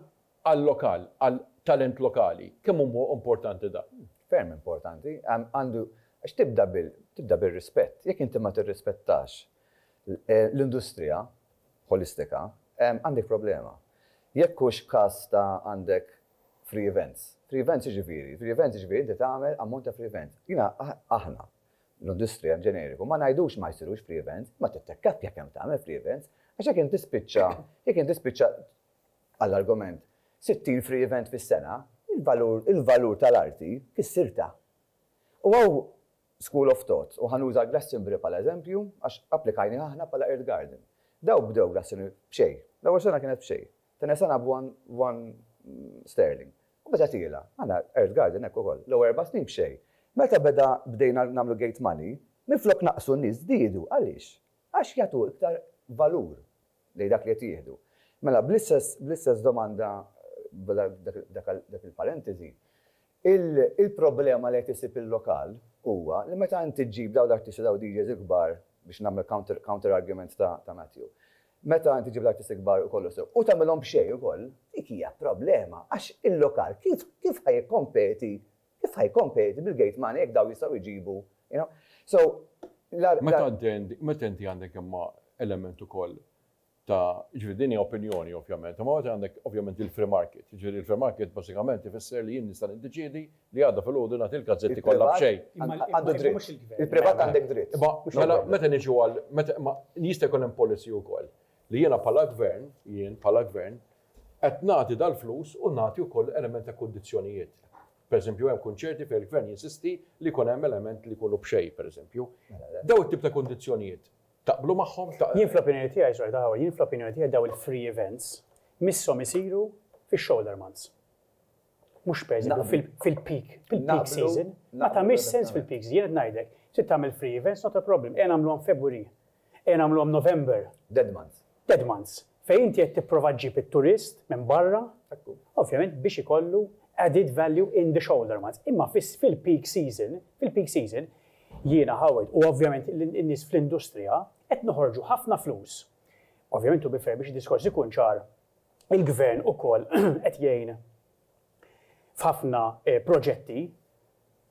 għal-lokal, għal talent lokali.
Kemm hu
huwa importanti dan? Ferm importanti.
Għandu,
għax
tibda bil, tibda bir-rispett. Jekk inti ma tirrispettax l-industrija ħolistika, għandek problema. Jekk hux każ ta' għandek free events. Free events x'jiġifieri? Free events jiġifieri inti tagħmel ammont ta' free events. Jiena, aħna, l-industrija b'ġeneriku, ma ngħidux ma jsirux free events, imma tittekkapja kemm tagħmel free events, għax jekk inti tispiċċa, jekk inti tispiċċa Għall-argument, 60 free event fis-sena, il-valur il-valur tal-arti fissir ta'. U hawn school of thought, u ħa nuża Glastonbury bħala eżempju għax applikajnieh aħna bħala Earth Garden. Dawk bdew Glastonbury b'xejn. L-ewwel sena kienet b'xejn. T-tieni sena b'one one sterling. U beda tiela'. Aħna Earth Garden hekk ukoll. L-ewwel erba' snin b'xejn. Meta beda bdejna nagħmlu gate money, minflok naqqsu n-nies żdiedu. Għaliex? Għax jagħtu iktar valur. lejn dak li qed jieħdu. Mela, bl-istess domanda, dak il-parenteżi, il-problema li qed isib il-lokal huwa li meta inti ġġib dawn l-artisti, dawn id-DJs il-kbar, biex nagħmel counter argument ta' Matthew, meta inti ġġib l-artisti kbar u kollox sew, u tagħmilhom b'xejn ukoll, dik hija problema għax il-lokal kif ħa jikkompeti Kif ħa jkompeti bil-gate money jekk dawn jistgħu jġibu, you know? So, la, la. Meta
inti, meta inti għandek imma element ukoll ta' ġifieri din hija opinjoni ovvjament, imma meta għandek ovvjament il-free market, ġifieri il-free market bażikament ifisser li jien nista' niddeċiedi li għada filgħodu nagħti l-gazzetti kollha b'xejn. Għandu dritt.
Il-privat għandek dritt. Imma mela meta niġu
għal meta imma jista' jkun hemm policy wkoll li jiena bħala gvern, jien bħala gvern, Qed nagħti dal-flus u nagħti wkoll element ta' kundizzjonijiet. Pereżempju hemm kunċerti fejn il-Gvern jinsisti li jkun hemm element li jkunu b'xejn, pereżempju. Dawn it-tip ta' kundizzjonijiet taqblu magħhom? Jien fl-opinjoni tiegħi, Sur Adenauer,
jien fl-opinjoni tiegħi dawn il-free events misshom isiru fix-shoulder months. Mhux pereżempju fil-peak, fil-peak season. Ma tagħmilx sens fil-peak season. Jien qed ngħidlek, trid tagħmel free events, not a problem. Ejja nagħmluhom February. Ejja nagħmluhom November. Dead months.
Dead months. Fejn inti qed
tipprova ġġib it-turist minn barra, ovvjament biex ikollu added value in the shoulder months. Imma fil-peak season, fil-peak season, jiena Howard, u ovvjament in-nies fl-industrija, qed noħorġu ħafna flus. Ovvjament to be fair biex id-diskors ikun ċar, il-gvern ukoll qed jgħin f'ħafna proġetti,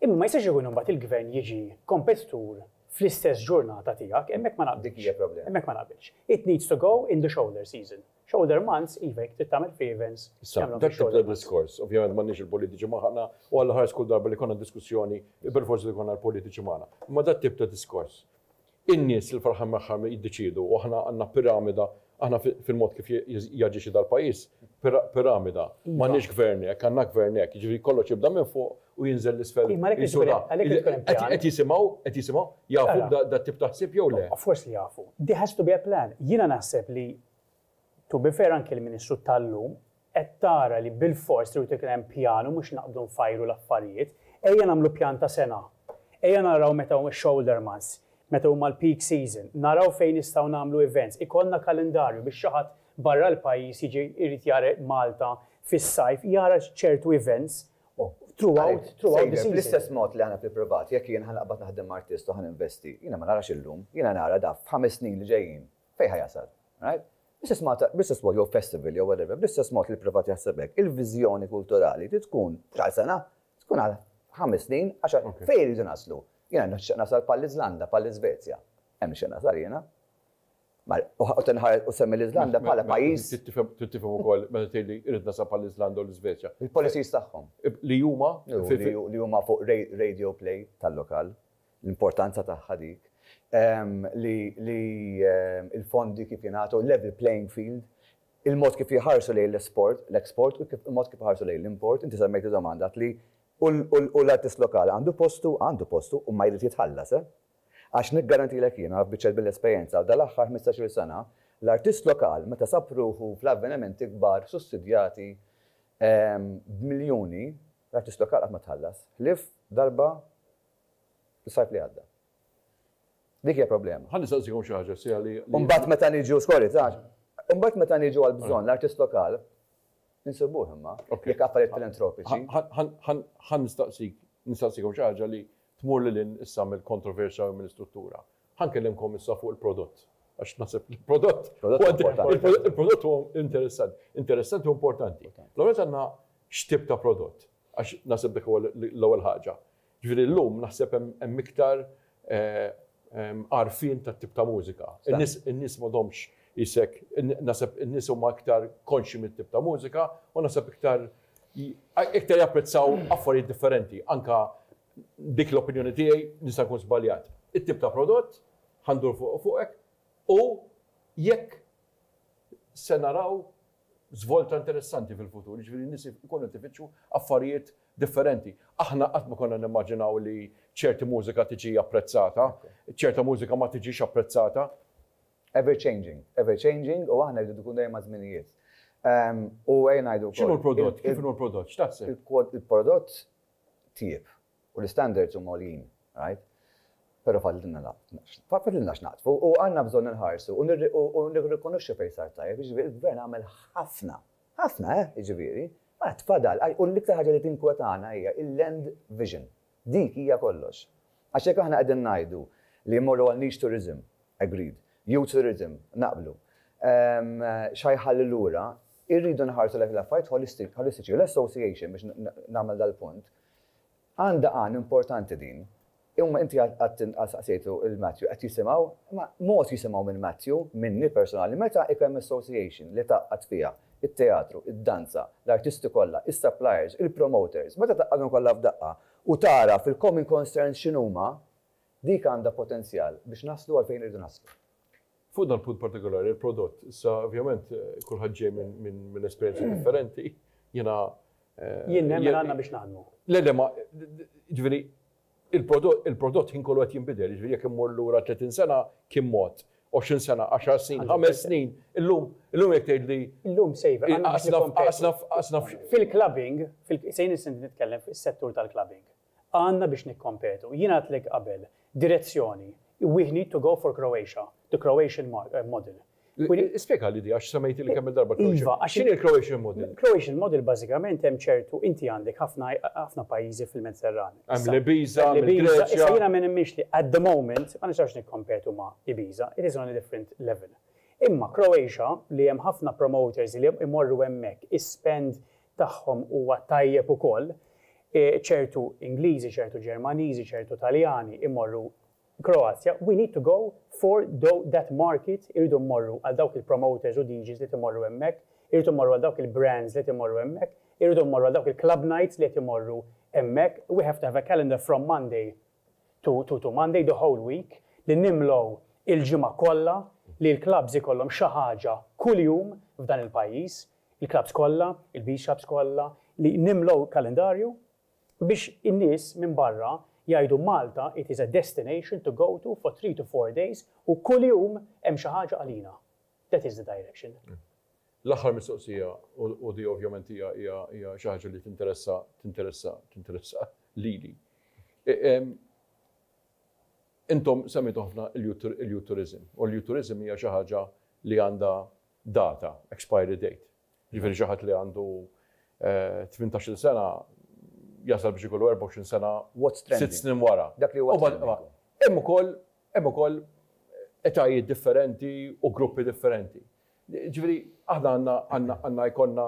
Imma ma jistax ikun imbagħad il-Gvern jiġi kompetitur fl-istess ġurnata tiegħek, hemmhekk ma naqbilx. Dik hija problema. Hemmhekk ma naqbilx. It needs to go in the shoulder season. Shoulder months, iva jekk trid tagħmel free events, tagħmilhom fix-shoulder months. Issa, dak tip ta'
diskors, ovvjament m'għandniex il-politiċi magħna u għall-aħħar kull darba li jkollna diskussjoni, perforz li jkollna l-politiċi magħna. Imma dak tip ta' diskors, In-nies li fl-aħħar mill-aħħar jiddeċiedu u aħna għandna piramida, aħna fil-mod kif jaġixxi dal-pajjiż, piramida. M'għandniex gvern hekk, għandna gvern hekk, jiġifieri kollox jibda minn fuq u jinżel 'l isfel. Qed jisimgħu, qed jisimgħu, jafu b'dat-tip ta' ħsieb jew le? Of course li jafu. There
has to be a plan. Jiena naħseb li To be fair anki l-Ministru tal-lum qed tara li bilfors irid ikun hemm pjan u mhux naqbdu nfajru l-affarijiet. Ejja nagħmlu pjan ta' sena. Ejja naraw meta huma x-shoulder months, meta huma l-peak season, naraw fejn nistgħu nagħmlu events, ikollna kalendarju biex xi ħadd barra l-pajjiż jiġi jrid jara Malta fis-sajf jara ċertu events throughout the season. Sejjer, bl-istess mod li aħna
fil-privat, jekk jien ħa naqbad naħdem ma' artist u ħa ninvesti, jiena ma narax illum, jiena nara daf f'ħames snin li ġejjin Fejn ħa jasal? Right? Bl-istess mod, bl-istess mod jew festival jew whatever, bl-istess mod li l-privat jaħseb hekk, il-viżjoni kulturali trid tkun mhux għal sena, tkun għal ħames snin, għaxar, fejn irridu naslu? Jiena nixtieq nasal bħall-Iżlanda, bħall-Iżvezja. Hemm nixtieq nasal jiena. U tinħares u semmi l-Iżlanda bħala pajjiż. Trid tifhem ukoll
meta tgħidli irid nasab għall-Iżlanda u l-Iżvezja. Il-policies tagħhom.
Li huma
li huma fuq
radio play tal-lokal. l-importanza tagħha dik, li l-fondi kif jingħatu, level playing field, il-mod kif jħarsu lejn l-esport, l-export, u l-mod kif jħarsu lejn l-import, inti semmejt id-domanda qed li u l-artist lokali għandu postu, għandu postu, u ma jrid jitħallas, eh. Għax niggarantilek jien, naf biċċa mill-esperjenza, dal-aħħar ħmistax-il sena, l-artist lokal meta sab ruħu fl-avvenimenti kbar sussidjati b'miljuni, l-artist lokal qatt ma tħallas, ħlief darba Is-sajf li għadda. Dik hija problema. Ħa nistaqsikom xi ħaġa sija
li. U mbagħad meta niġu, sorry,
tax, u mbagħad meta niġu għal bżonn l-artist lokal, insibuh imma, jekk affarijiet filantropiċi. Ħa
nistaqsik, nistaqsikom xi ħaġa li tmur lil hinn issa mill-kontroversja u mill-istruttura. Ħa nkellimkom issa fuq il-prodott. Għax naħseb il-prodott. Il-prodott huwa interessanti. Interessanti u importanti. L-għonet għandna x'tip ta' prodott. Għax naħseb dik huwa l-ewwel ħaġa. Jiġifieri llum naħseb hemm hemm iktar għarfien tat-tip ta' mużika. In-nies in-nies m'għadhomx isek naħseb in-nies huma iktar konxji mit-tip ta' mużika u naħseb iktar iktar japprezzaw affarijiet differenti. Anke dik l-opinjoni tiegħi nista' nkun żbaljat. It-tip ta' prodott, ħa ndur fuq fuqek, u jekk se naraw żvolta interessanti fil-futur, jiġifieri n-nies ikunu qed ifittxu affarijiet differenti. Aħna qatt ma konna nimmaġinaw li ċerti mużika tiġi apprezzata, ċerta mużika ma tiġix apprezzata. Ever
changing, ever changing u aħna rridu nkunu dejjem maż-żminijiet. U ejja ngħidu wkoll. X'inhu l-prodott? Kif inhu
l-prodott? X'taħseb? Il-prodott
tieb. U l-istandards huma għoljin, right? Però fadlilna fadlilna x'naqdfu u għandna bżonn inħarsu u u nirrikonoxxu fejn sar tajjeb, jiġifieri l-Gvern għamel ħafna, ħafna eh, jiġifieri, ma għad fadal, u l-iktar ħaġa li tinkwetana hija il-land vision. Dik hija kollox. Għax jekk aħna qegħdin ngħidu li mmorru għal niche tourism, agreed, youth tourism, naqblu, xa jħalli lura, irridu nħarsu lejn l-affarijiet holistiċi u l-association biex nagħmel dal-punt, Għandha għan importanti din. Imma inti qatt inqas staqsejtu lil Matthew, qed jisimgħu? Imma mod jisimgħu minn Matthew, minni personali, meta ikun hemm association li tgħaqqad fiha, it-teatru, id-danza, l-artisti kollha, is-suppliers, il-promoters, meta tgħaqqadhom kollha f'daqqa u tagħraf il-common concerns x'inhuma, dik għandha potenzjal biex naslu għal fejn irridu naslu. Fuq dan punt
partikolari, il-prodott, issa ovvjament kulħadd ġej minn esperjenzi differenti, jiena. Eh, jien
nemmen għandna biex naħdmu. Le, le, ma,
ġifieri, il-prodott ħin kollu qed jinbidel, ġifieri jekk immur lura 30 sena kien mod, 20 sena, 10 snin, 5 snin, illum, illum jekk tgħid li. Illum
sejver, għasna
fil-clubbing,
sejn nitkellem fis-settur tal-clubbing. għandna biex nikkompetu. Jien għedtlek qabel, direzzjoni, we need to go for Croatia, the Croatian model. Spjegali
di għax semmejtili kemm il-darba Croatia. Iva, għax x'inhi l-Croatian
model?
Croatian model bażikament
hemm ċertu inti għandek ħafna pajjiżi fil-Mediterran. Hemm l-Ibiza,
l-Ibiza. Issa jiena ma nemminx li
at the moment ma nistax nikkompetu ma' Ibiza, it is on a different level. Imma Croatia li hemm ħafna promoters li imorru hemmhekk, ispend tagħhom huwa tajjeb ukoll, ċertu Ingliżi, ċertu Ġermaniżi, ċertu Taljani jmorru Kroazja, we need to go for that market, irridu mmorru għal dawk il-promoters u DJs li qed imorru hemmhekk, irridu mmorru għal dawk il-brands li qed imorru hemmhekk, irridu mmorru għal dawk il-club nights li qed imorru hemmhekk, we have to have a calendar from Monday to to Monday, the whole week, li nimlew il-ġimgħa kollha li l-clubs ikollhom xi ħaġa kuljum f'dan il-pajjiż, il-klabbs kollha, il-bixops kollha, li nimlew kalendarju biex in-nies minn barra jgħidu Malta it is a destination to go to for three to four days u kuljum hemm xi ħaġa għalina. That is the direction. L-aħħar
mistoqsija u di ovvjament hija hija xi ħaġa li tinteressa tinteressa tinteressa lili. Intom semmitu ħafna il-youth tourism u l-youth tourism hija xi ħaġa li għandha data, expiry date. Jiġifieri xi ħadd li għandu tmintax-il sena jasal biex ikollu erbgħa u għoxrin sena sitt snin wara. Hemm
ukoll
hemm ukoll etajiet differenti u gruppi differenti. Jiġifieri aħna għandna għandna għandna jkollna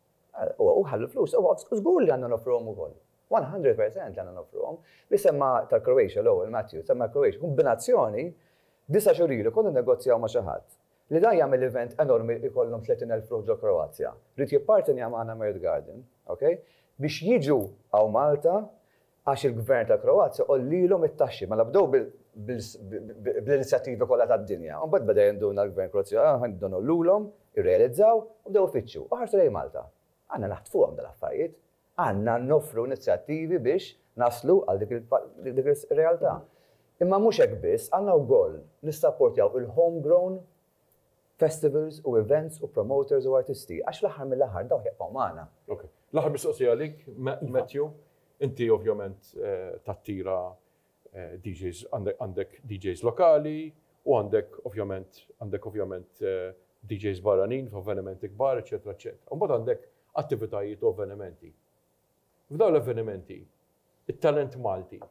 u ħallu l-flus, żgur li għandna noffruhom ukoll. One hundred percent li għandna noffruhom. Li semma' tal-Croatia l-ewwel, Matthew, semma' l-Croatia, kombinazzjoni, disa' xhur ilu konna nnegozjaw ma' xi ħadd li dan jagħmel event enormi li jkollhom tletin elf ruħ ġol-Kroazja. Ried jippartenja magħna Mertgarden, okay, biex jiġu hawn Malta għax il-Gvern tal-Kroazja għollielhom it-taxxi. Mela bdew bl-inizjattivi kollha tad-dinja. Imbagħad beda jinduna l-Gvern Kroazja, aħna nibdew ngħollulhom, irrealizzaw u bdew ifittxu u ħarsu lejn Malta. Għandna naħtfuhom dal-affarijiet. Għandna noffru inizjattivi biex naslu għal dik ir-realtà. Imma mhux hekk biss, għandna wkoll nissapportjaw il-homegrown festivals u events u promoters u artisti għax fl-aħħar mill-aħħar dawk jibqgħu magħna. Ok. L-aħħar mistoqsija
għalik, Matthew, inti ovvjament tattira DJs, għandek DJs lokali u għandek ovvjament għandek ovvjament DJs barranin f'avvenimenti kbar, eċċetera, eċċetera. U mbagħad għandek attivitajiet u avvenimenti. F'dawn l-avvenimenti, it-talent Malti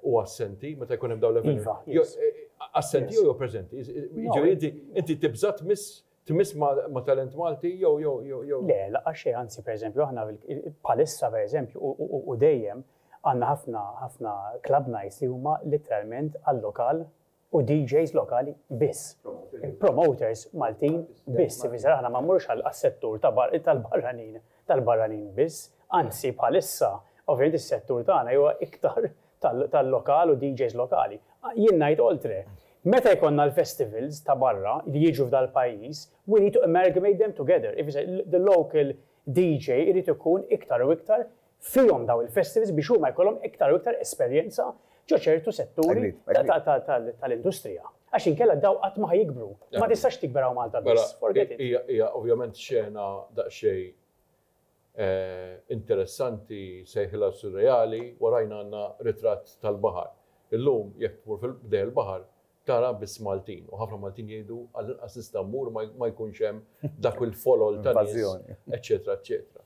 u assenti meta jkun hemm dawn l-eventi. Iva, yes. Eh, eh, assenti jew preżenti. Jiġifieri inti inti tibża' tmiss tmiss ma' talent Malti jew jew jew jew. Le, laqgħa
xejn, anzi pereżempju aħna bħalissa pereżempju u dejjem għandna ħafna ħafna club nights li huma literalment għal-lokal u DJs lokali biss. Promoters Maltin biss, ifisser aħna ma mmurux għas-settur tal-barranin, tal-barranin biss, anzi bħalissa ovvjament is-settur tagħna huwa iktar tal-lokal u DJs lokali. Jien ngħid oltre, meta jkollna l-festivals ta' barra li jiġu f'dal-pajjiż, we need to amalgamate them together, ifisser the local DJ irid ikun iktar u iktar fihom dawn il-festivals biex huma jkollhom iktar u iktar esperjenza ġo ċertu setturi tal-industrija. Għax inkella daw qatt ma ħa jikbru. Ma tistax tikber hawn Malta biss. Forget it. Hija ovvjament
xena daqsxejn interessanti sejħilha surreali, warajna għandna ritratt tal-baħar. Illum jekk tmur fil-ħdejn il-baħar tara biss Maltin u ħafna Maltin jgħidu għall-inqas nista' mmur ma jkunx hemm dak il-folol tan-nies eċċetera eċċetera.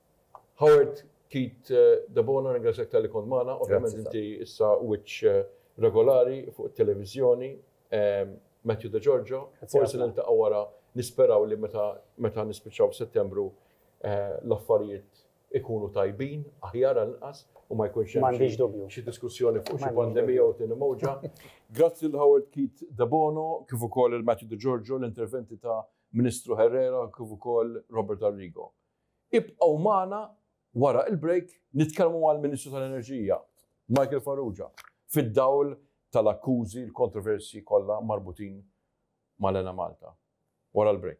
Howard Keith Debono nirringrazzjak talli kont magħna, ovvjament inti issa wiċċ regolari fuq it-televiżjoni, Matthew De Giorgio, forsi niltaqgħu wara, nisperaw li meta meta nispiċċaw f'Settembru l-affarijiet ikunu tajbin, aħjar għal inqas u ma jkunx hemm M'għandix dubju. xi diskussjoni fuq xi pandemija jew tieni mowġa. Grazzi lil Howard Keith Debono kif ukoll lil Matthew De Giorgio, l-interventi ta' Ministru Herrera kif ukoll Robert Arrigo. Ibqgħu magħna wara il-break nitkellmu mal-Ministru tal-Enerġija, Michael Farrugia, fid-dawl tal-akkużi, l-kontroversji kollha marbutin mal-Enemalta. Wara l-break.